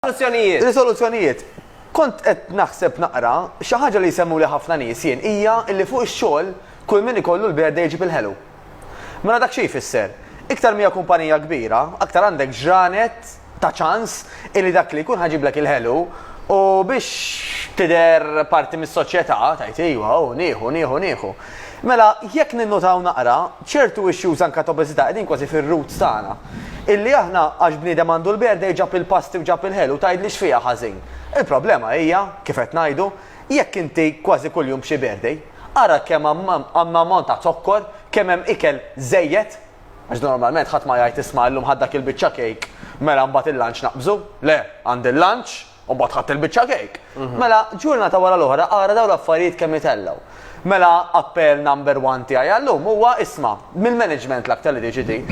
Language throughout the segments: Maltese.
Soluzzjonijiet. Risoluzzjonijiet. Kont qed naħseb naqra, xi ħaġa li jsemmuli ħafna nies jien hija li fuq ix-xogħol kull min ikollu l-birthday iġib il-ħelu. Mela dak xi jfisser? Iktar m'hija kumpanija kbira, aktar għandek ġranet ta' ċans illi dak li jkun ħa jġiblek il-ħelu u biex tidher parti mis-soċjetà tgħid ejwa hu nieħu, nieħu, nieħu. Mela jekk ninnutaw naqra, Ċertu issues anke ta' obeżità qegħdin kważi fir-roots tagħna. Illi aħna għax bniedem għandu l-berdej ġab il-pasti u ġab il-ħelu u tgħidli x'fiha ħażin. Il-problema hija, kif qed ngħidu, jekk inti kważi kuljum b'xi berdej. Ara kemm hemm ammont ta' zokkor, kemm hemm ikel żejjed. Għax normalment ħadd ma jgħid isma' illum ħadt dak il-biċċa cake, mela mbagħad il-lunch naqbżu. Le, għandi l-lunch, U mbagħad ħadt il-biċċa kejk. Mela, ġurnata wara l-oħra ara dawn l-affarijiet kemm itellgħu. Mela, appell number one tiegħi għallum huwa isma', mill-management l-aktar li tiġi din,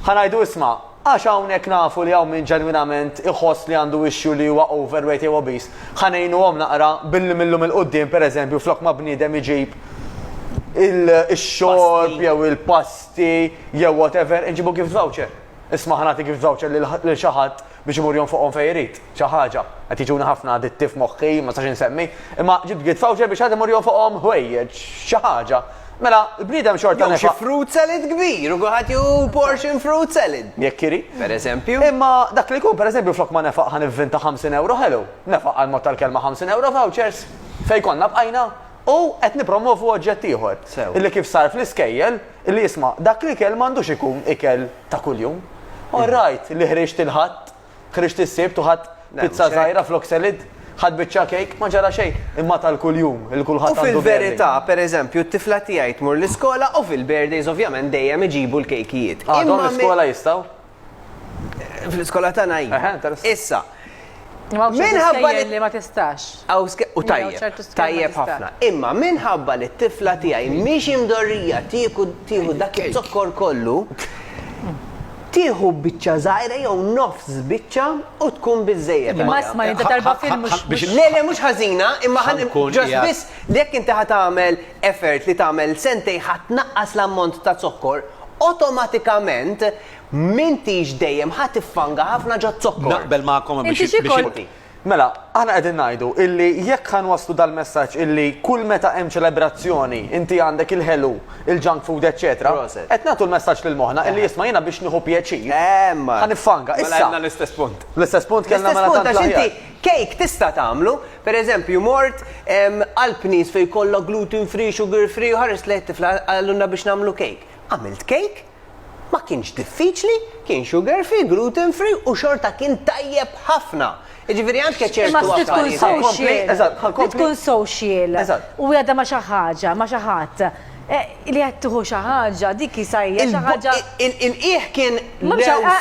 ħa ngħidu isma', għax hawnhekk nafu li hawn min ġenwinament iħoss li għandu issue li huwa overweight jew obese, ħa ngħinuhom naqra billi mil-lum 'il quddiem pereżempju flok ma bniedem iġib ix-xorb jew il-pasti jew whatever inġibu gift voucher. Isma' ħa nagħtik voucher lil xi ħadd biex imur jonfoqhom fejn irid, xi ħaġa. Qed jiġuni ħafna ditti f'moħħi, ma nistax insemmi. Imma ġibt gift voucher biex ħadd imur jonfoqhom ħwejjeġ, xi ħaġa. Mela, l-bniedem xorta nefaq. Jew xi fruit salad kbir u kulħadd jieħu portion fruit salad. Jekk irid. Pereżempju. Imma dak li jkun, pereżempju, flok ma nefaq ħa nivvinta 50 ewro ħelu, nefaq għall-mod tal-kelma 50 ewro vouchers, fejn konna bqajna? U qed nippromwovu oġġett ieħor. Sew. Illi kif sar fl-iskejjel, Li jisma' dak l-ikel m'għandux ikun ikel ta' kuljum. All right li ħriġt il-Ħadd, ħriġt is-Sibt u ħadt pizza żgħira flok salad, ħadt biċċa cake, ma ġara xejn, imma tal-kuljum li kulħadd għandu birthday. U fil-verità, per eżempju, t-tifla tiegħi tmur l-iskola u fil-birthdays ovvjament dejjem iġibu l-kejkijiet. Għadhom l-iskola jistgħu? Fl-iskola tagħna hi. Eħe, interessant. Issa. Imma hawn xi Minħabba li- skejjel li ma tistax. Aw ske- u Jew tajjeb, ċertu skema tajjeb tista'. ħafna. Imma minħabba li t-tifla tiegħi mhix imdorrija tieku tieħu dak iz-zokkor kollu, tieħu biċċa żgħira jew nofs biċċa u tkun biżżejjed. Imma għaliha. isma' inti darba fil mhux Biex- mhux- Le, le, mhux ħażina, imma ħan Ħankun ġast qiegħed. biss li jekk inti ħatamel effort li tagħmel sentej ħadd naqqas l-ammont ta' zokkor Awtomatikament m'intix dejjem ħa tiffanga ħafna ġoz-zokkor. Naqbel magħkom hemm biex Inti xi kont? Mela, aħna qegħdin ngħidu illi jekk ħa nwasslu dal-messaġġ illi kull meta hemm ċelebrazzjoni inti għandek il-ħelu, il-junk food eċċetera, qed nagħtu l-messaġġ lil moħħna illi isma' jiena biex nieħu pjaċir, ħa niffanga. Issa. Mela għedna l-istess punt. L-istess punt kellna mela tant l-aħjar. L-istess punt għax inti Cake tista' tagħmlu, per eżempju mort għal pnis fejn jkollok gluten free, sugar free u ħarist lejn it-tifla qalulna biex nagħmlu cake. Għamilt cake, ma kienx diffiċli, kien sugar free, gluten free u xorta kien tajjeb ħafna. Jiġifieri anke ċertu affarijiet. Imma trid tkun social, trid tkun social u qiegħda ma' xi ħaġa, ma' xi ħadd. Li qed tieħu xi ħaġa, dik sa hija xi ħaġa. Il-qiegħ kien.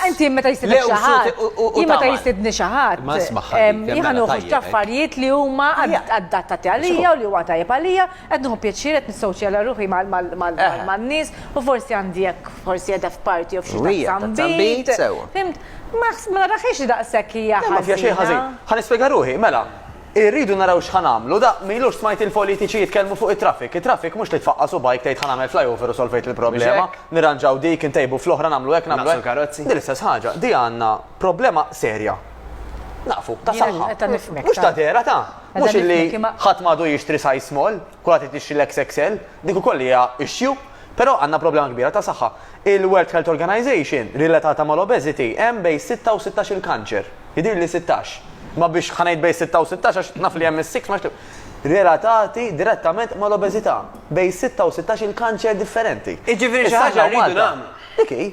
Inti meta jsibek xi ħadd. Jien meta jsibni xi ħadd. Ma smaħħa. Jiena nieħu ftit affarijiet li huma adattati għalija u li huwa tajjeb għalija, qed nieħu pjaċir, qed nissowċjala ruħi man-nies u forsi għandi hekk, forsi qiegħda f'party jew f'xi tazza nbid. Fimt? Ma naraħiex li daqshekk hija ħażina. Ma fiha xejn ħażin. Ħa nispjega ruħi, mela. Irridu naraw x'ħa nagħmlu. Da, m'ilux smajt il-politiċi jitkellmu fuq it-traffic. It-traffic mhux li tfaqqa' subgħajk tgħid ħa nagħmel flyover u solvejt il-problema, nirranġaw dik, intejbu fl-oħra, nagħmlu hekk, nagħmlu hekk. Din l-istess ħaġa. Di għandna problema serja. Naqfu, ta' saħħa. Mhux ta' dehra ta'. Mhux illi ħadd m'għadu jixtri size small. Kulħadd irid jixtri l-XXL, dik ukoll hija issue. Però għandna problema kbira ta' saħħa. Il-World Health Organization relatata mal-obesity hemm bejn sitta u sittax-il kanċer. Jidhirli sittax. Ma biex ħa ngħid bejn sitta u sittax għax naf li hemm is-six ma relatati direttament mal-obeżità. Bejn sitta u sittax-il kanċer differenti. Jiġifieri xi ħaġa rridu nagħmlu. Dik hi.